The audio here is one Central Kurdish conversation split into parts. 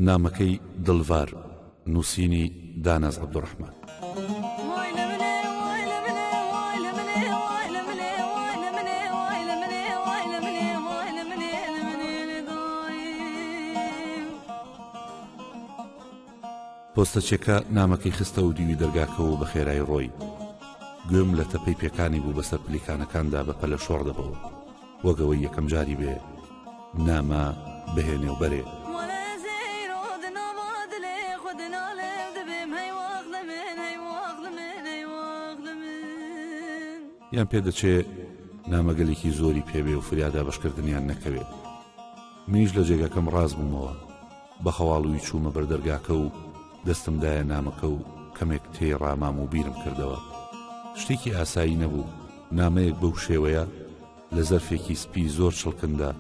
نامەکەی دڵڤار نووسینی داناز عبدالرحمن پۆستەچێکە نامەکەی خستە و دیوی دەرگاکەەوە بە خێرای ڕۆی گوێم لە تەپەی پێکانی بوو بەسەر پلیکانەکاندا بە پەلە شۆڕ دەبەوە وەک ئەوەی یەکەم جاری بێ نامە بهێنێ و بەرێ. یان پێدەچێ نامەگەلێکی زۆری پێبێ و فریا دابەشکردنیان نەکەوێ منیش لە جێگاکەم ڕاست بوومەوە بە خەواڵووی چوومە بەر دەرگاکە و دەستم دایە نامەکە و کەمێک تێی ڕامام و بیرم کردەوە شتێکی ئاسایی نەبوو نامەیەک بەو شێوەیە لە زەرفێکی سپی زۆر چڵکندا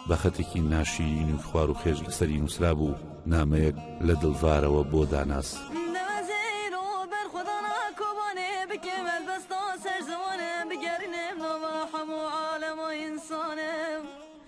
بە خەتێکی ناشیرین و خوار و خێش لەسەری نووسرا بوو نامەیەک لە دڵڤارەوە بۆ داناس.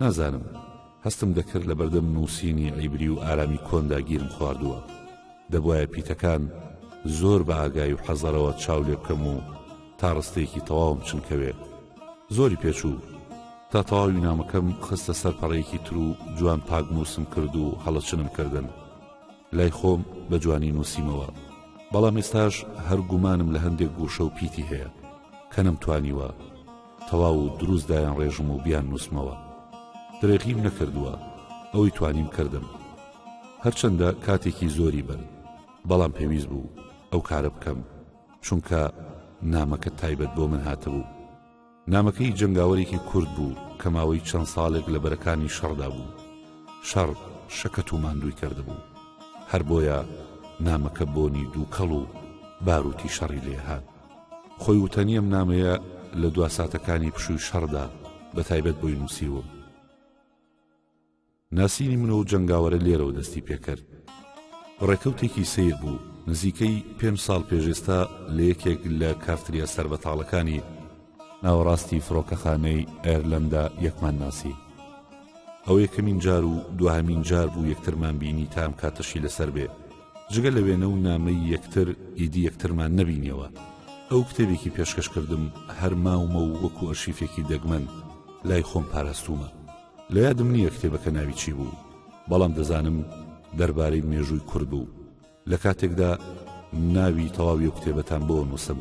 نازانم، هەستم دەکرد لەبەردەم نووسینی عیبری و ئارامی کۆندا گیرم خواردووە، دەبوایە پیتەکان زۆر بە ئاگایی و حەزەرەوە چاو لێ بکەم و تا ڕستەیەکی تەواوم چنکەوێ. زۆری پێ چوو. تا تەواوی نامەکەم خستە سەر پەڕەیەکی تر و جوان پاکنووسم کرد و هەڵەچنم کردن. لای خۆم بە جوانی نووسیمەوە. بەڵام ئێستاش هەر گومانم لە هەندێک گووشە و پیتی هەیە کە نەمتوانیوە. تەواو و دروست دایانڕێژم و بیاننووسمەوە. درێغیم نەکردووە، ئەوەی توانیم کردم. هەرچەندە کاتێکی زۆری برد، بەڵام پێویست بوو ئەو کارە بکەم، چونکە نامەکە تایبەت بۆ من هاتبوو. نامەکەی جەنگاوەرێکی کورد بوو کە ماوەی چەند ساڵێک لە بەرەکانی شەڕدا بوو. شەڕ شەکەت و ماندووی کردبوو. هەر بۆیە نامەکە بۆنی دووکەڵ و باروتی شەڕی لێهات. خۆی وتەنی ئەم نامەیە لە دوا ساتەکانی پشووی شەڕدا بە تایبەت بۆی نووسیوم ناسینی من و جەنگاوەرە لێرەوە دەستی پێکرد ڕێکەوتێکی سیر بوو نزیکەی پێنج ساڵ پێشێستا لە یەکێک لە کافتریا سەر بە تاڵەکانی ناوەڕاستی فڕۆکەخانەی ئەرلەندا یەکمان ناسی ئەو یەکەمین جار و دوهمین جار بوو یەکترمان بینی تام کاتەشی لەسەر بێ جگە لە وێنە و نامەی یەکتر ئیدی یەکترمان نەبینیەوە ئەو کتێبێکی پێشکەش کردم هەر ماومە و وەکو ئەرشیفێکی دەگمەن لای خۆم پاراستومە لە یادم نییە کتێبەکە ناوی چی بوو بەڵام دەزانم دەربارەی مێژووی کورد بوو لە کاتێکدا ناوی تەواوی و کتێبەتان بۆ نووسم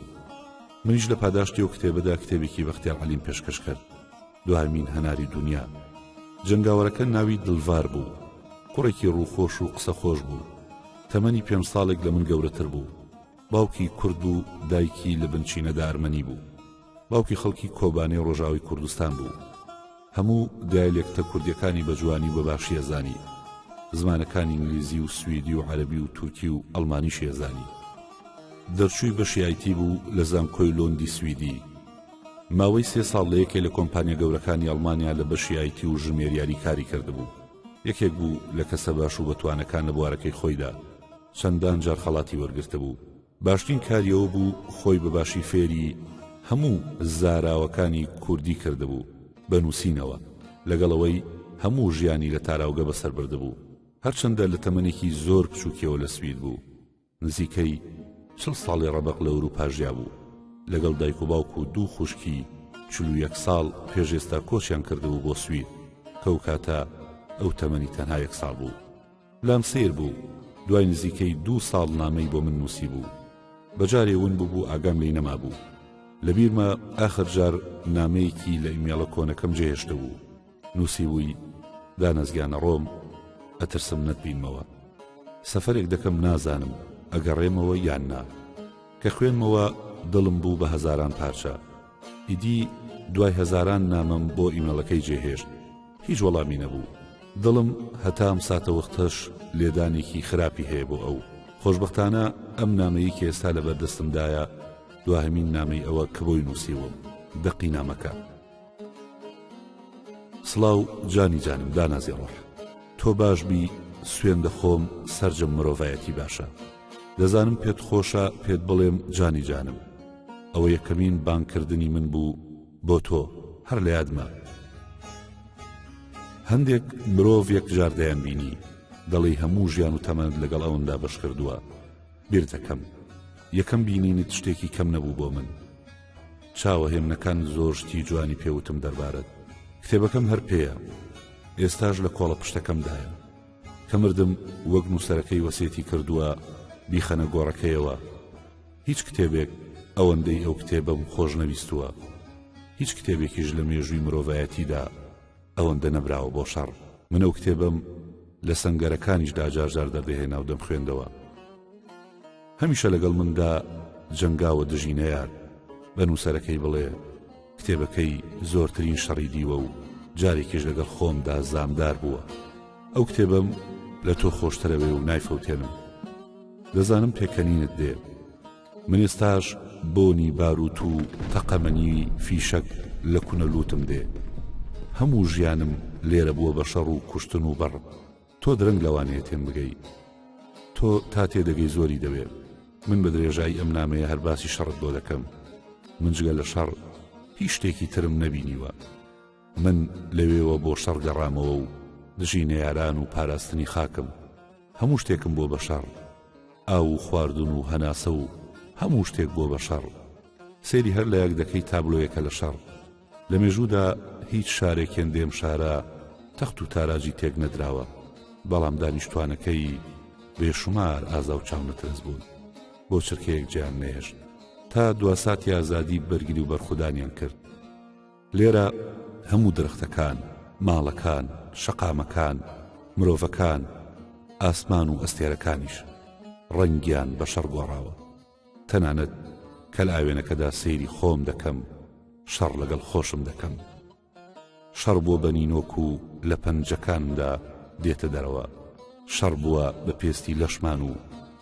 منیش لە پاداشتی و کتێبەدا کتێبێکی بەختیار عەلیم پێشکەش کرد دوایمین هەناری دونیا جەنگاوەرەکە ناوی دلڤار بوو کوڕێکی ڕووخۆش و قسە خۆش بوو تەمەنی پێنج ساڵێک لە من گەورەتر بوو باوکی کورد و دایکی لە بنچینە دارمەنی بوو باوکی خەڵکی کۆبانێ ڕۆژاوی کوردستان بوو هەموو دایلێکتە کوردیەکانی بەجوانی و بەباشیە زانی زمانەکانی ئینگلیزی و سویدی و عەربی و تورکی و ئەڵمانی شێزانی دەرچووی بەشیایتی بوو لە زانکۆی لۆندی سویدی ماوەی سێ ساڵ لە یەکێ لە کۆمپانیا گەورەکانی ئەڵمانیا لە بەشی ئای تی و ژمێریاری کاری کردبوو یەکێک بوو لە کەسە باش و بەتوانەکان لە بوارەکەی خۆیدا چەندان جار خەڵاتی وەرگرتبوو باشترین کاری ئەوە بوو خۆی بە باشی فێری هەموو زاراوەکانی کوردی کردبوو بە نووسینەوە لەگەڵ ئەوەی هەموو ژیانی لە تاراوگە بەسەر بردبوو هەرچەندە لە تەمەنێکی زۆر بچووکیەوە لە سوید بوو نزیکەی چڵ ساڵی ڕەبەق لە ئورووپا ژیابوو، لەگەڵ دایک و باوک و دوو خوشکی چل و یەک ساڵ پێش ئێستا کۆچیان کردبوو بۆ سوید، کە ئەو کاتە ئەو تەمەنی تەنها یەک ساڵ بوو. لام سەیر بوو، دوای نزیکەی دوو ساڵ نامەی بۆ من نووسیبوو. بە جارێ ون ببوو ئاگام لێی نەمابوو. لە بیرمە ئاخر جار نامەیەکی لە ئیمێڵە کۆنەکەم جێهێشتبوو. نووسیووی، دانەزگانە ڕۆم، ئەترسم نەتبینمەوە. سەفەرێک دەکەم نازانم ئەگەڕێمەوە یان نا. کە خوێنمەوە دڵم بوو بە هەزاران پارچە. ئیدی دوای هەزاران نامەم بۆ ئیمێڵەکەی جێهێشت. هیچ وەڵامی نەبوو. دڵم هەتا ئەم ساتەوەختەش لێدانێکی خراپی هەیە بۆ ئەو. خۆشبەختانە ئەم نامەیی کە ئێستا لەبەردەستمدایە دواهەمین نامەی ئەوە کە بۆی نووسیووم. دەقی نامەکە. سڵاو جانی جانم دانازی ڕۆح تۆ باش بی سوێن دەخۆم سرجەم مرۆڤایەتی باشە دەزانم پێت خۆشە پێت بڵێم جانی جانم ئەوە یەکەمین بانکردنی من بوو بۆ تۆ هەر لە یادمە هەندێک مرۆڤ یەک جاردەیان بینی دەڵی هەموو ژیان و تەمەند لەگەڵ ئەوندا بەش کردووە بیرتەکەم یەکەم بینینت شتێکی کەم نەبوو بۆ من چاوە هێمنەکان زۆر شتی جوانی پێوتم دەربارەت کتێبەکەم هەر پێیە ئێستاش لە کۆڵە پشتەکەمدایە کەمردم وەک نووسەرەکەی وەسێتی کردووە بیخەنە گۆڕەکەیەوە هیچ کتێبێک ئەوەندەی ئەو کتێبەم خۆش نەویستووە هیچ کتێبێکیش لە مێژووی مرۆڤایەتیدا ئەوەندە نەمراوە بۆ شەڕ من ئەو کتێبەم لە سەنگەرەکانیشدا جارجار دەردەهێنا و دەمخوێندەوە هەمیشە لەگەڵ مندا جەنگاوە دژی نەیار بە نووسەرەکەی بڵێ کتێبەکەی زۆرترین شەڕی دیوە و جارێکیش لەگەڵ خۆمدا زامدار بووە ئەو کتێبم لە تۆ خۆشترەوێ و نایفەوتێنم دەزانم پێکەنینت دێ من ئێستاش بۆنی باروت و تەقەمەنی فیشەک لە کونە لوتم دێ هەموو ژیانم لێرە بووە بە شەڕ و کوشتن و بەڕ تۆ درەنگ لەوانەیە تێم بگەی تۆ تا تێدەگەی زۆری دەوێ من بە درێژایی ئەم نامەیە هەر باسی شەڕت بۆ دەکەم من جگە لە شەڕ هیچ شتێکی ترم نەبینیوە من لەوێوە بۆ شەڕ گەڕامەوە و دژی نەیاران و پاراستنی خاکم هەموو شتێکم بۆ بەشەڕ ئاو و خواردن و هەناسە و هەموو شتێک بۆ بەشەڕ سەیری هەر لایەک دەکەی تابلۆیەکە لە شەڕ لە مێژوودا هیچ شارێکێن دێم شارە تەخت و تاراجی تێک نەدراوە بەڵام دانیشتوانەکەی بێشمار ئازا و چاونەترس بوون بۆ چرکەیەک جیان نەهێشت تا دواساتی ئازادی بەرگری و بەرخودانیان کرد لێرە هەموو درەختەکان، ماڵەکان، شەقامەکان، مرۆڤەکان، ئاسمان و ئەستێرەکانیش ڕەنگیان بە شەڕ گۆڕاوە. تەنانەت کەلئاوێنەکەدا سەیری خۆم دەکەم، شەڕ لەگەڵ خۆشم دەکەم. شەڕ بۆ بە نینۆک و لە پەنجەکانمدا دێتە دەرەوە. شەڕ بووە بە پێستی لەشمان و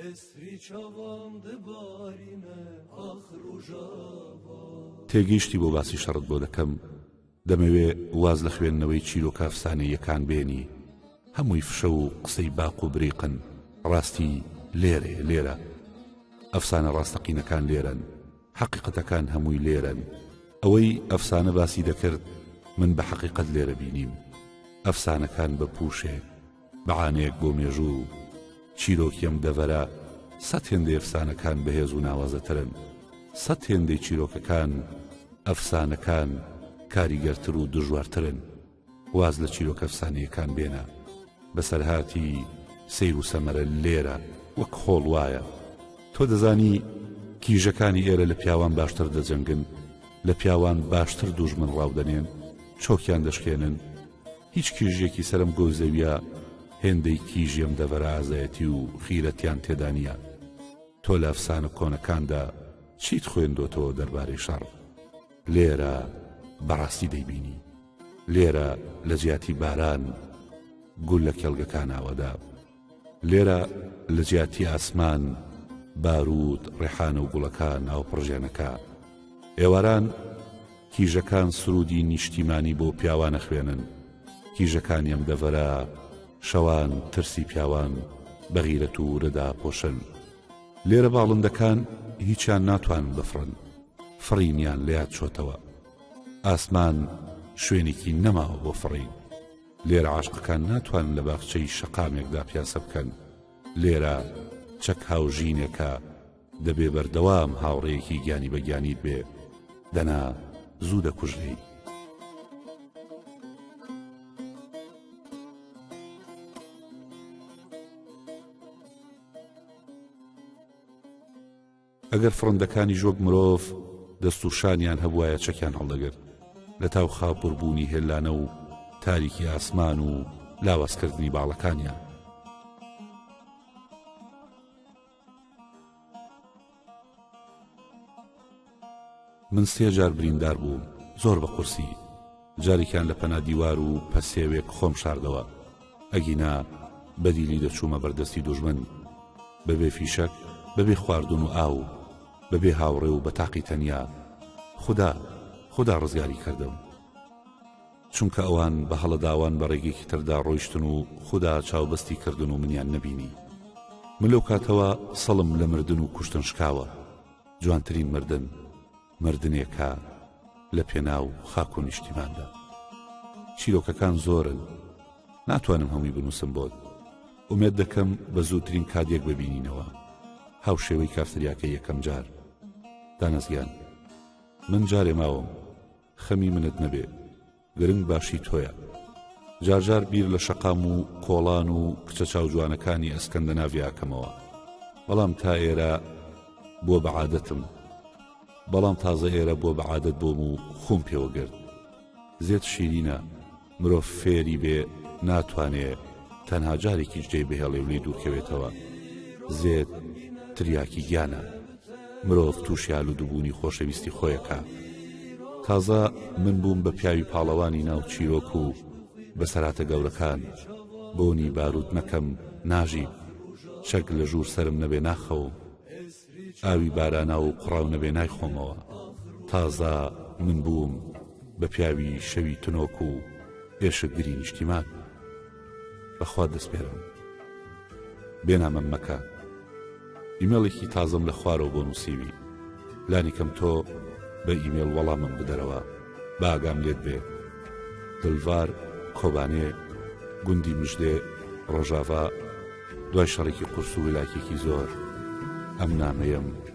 ئێسری چاوان دبارینە ئاخ ڕوژاوا. تێگەیشتی بۆ باسی شەڕت بۆ دەکەم دەمەوێ واز لە خوێندنەوەی چیرۆکە ئەفسانەییەکان بێنی هەمووی فشە و قسەی باق و بریقن ڕاستی لێرەیە لێرە ئەفسانە ڕاستەقینەکان لێرەن حەقیقەتەکان هەمووی لێرەن ئەوەی ئەفسانە باسی دەکرد من بە حەقیقەت لێرە بینیم ئەفسانەکان بە پووشێ بەعانەیەک بۆ مێژوو و چیرۆکی ئەم دەڤەرە سەد هێندەی ئەفسانەکان بەهێز و ناوازەترن سەد هێندەی چیرۆکەکان ئەفسانەکان کاریگەرتر و دژوارترن واز لە چیرۆکە ئەفسانەیەکان بێنە بەسەرهاتی سیر و سەمەرە لێرە وەک خۆڵ وایە تۆ دەزانی کیژەکانی ئێرە لە پیاوان باشتر دەجەنگن لە پیاوان باشتر دوژمن ڕاودەنێن چۆکیان دەشکێنن هیچ کیژیەکی سەرم گۆو زەویە هێندەی کیژێم دەڤەرە ئازایەتی و غیرەتیان تێدا نیە تۆ لە ئەفسانە کۆنەکاندا چیت خوێندۆتەوە دەربارەی شەڕ لێرە بەڕاستی دەیبینی لێرە لە جیاتی باران گول لە کێڵگەکان ئاوەدە لێرە لە جیاتی ئاسمان، باروود، ڕێحان و گوڵەکان ناوپڕژێنەکە، ئێواران کیژەکان سروودی نیشتیمانی بۆ پیاوان ئەخوێنن، کیژەکانی ئەم دەڤەرە شەوان ترسی پیاوان بە غیرەت و ورە داپۆشن. لێرە باڵندەکان هیچیان ناتوانن بفڕن، فڕینیان لە یاد چۆتەوە. ئاسمان شوێنێکی نەماوە بۆ فڕین. لێرە عاشقەکان ناتوانن لە باخچەی شەقامێکدا پیاسە بکەن، لێرە چەک هاوژینێکە دەبێ بەردەوام هاوڕێیەکی گیانی بە گیانیت بێ، دەنا زوو دەکوژرێی. ئەگەر فڕندەکانیش وەک مرۆڤ دەست و شانیان هەبوایە چەکیان هەڵدەگرت لە تاو خاپور بوونی هێلانە و تاریکی ئاسمان و لاوازکردنی باڵەکانیان من سێ جار بریندار بووم زۆر بە قورسی جارێکیان لە پەنا دیوار و پەسێوێک خۆم شاردەوە ئەگینا بە دیلی دەچوومە بەردەستی دوژمن بە بێ فیشەک بە بێ خواردن و ئاو بە بێ هاوڕێ و بە تاقی تەنیا خودا خودا ڕزگاری کردم چونکە ئەوان بە هەڵەداوان بە ڕێگەیەکی تردا ڕۆیشتن و خوددا چاوبەستی کردن و منیان نەبینی من لەو کاتەوە سەڵم لە مردن و کوشتن شکاوە جوانترین مردن مردنێکە لە پێناو خاک و نیشتیماندا چیرۆکەکان زۆرن ناتوانم هەمووی بنووسم بۆت ئومێد دەکەم بە زووترین کادێک ببینینەوە هاوشێوەی کافتریاکە یەکەم جار دانەزگیان من جارێ ماوم خەمی منت نەبێ گرنگ باشی تۆیە جار جار بیر لە شەقام و کۆڵان و کچە چاوجوانەکانی ئەسکەندەناڤی ئاکەمەوە بەڵام تا ئێرە بۆ بەعادەتم بەڵام تازە ئێرە بۆ بەعادەت بۆم و خۆم پێوەگرت زێت شیرینە مرۆڤ فێری بێ ناتوانێ تەنها جارێکی جێ بهێڵێ و لێ دوورکەوێتەوە زێت تریاکی گیانە مرۆڤ تووشی ئالوودبوونی خۆشەویستی خۆیەکە تازە من بووم بە پیاوی پاڵەوانی ناو چیرۆک و بەسەراتە گەورەکان بۆنی باروت نەکەم ناژی چەک لە ژوور سرم نەبێ ناخەوم ئاوی بارانە و قڕاو نەبێ نایخۆمەوە تازە من بووم بە پیاوی شەوی تنۆک و ئێشکگری نیشتیمان بەخوا دەسپێرم بێنامەم مەکە ئیمێڵێکی تازەم لە خوارەوە بۆ نووسیوی لانیکەم تۆ بە ئیمێڵ وەڵامم بدەرەوە باگام لێت بێ دلڤار کۆبانێ گوندی مژدێ ڕۆژاڤا دوای شەڕێکی قورس و ولاکێکی زۆر ئەم نامەیەم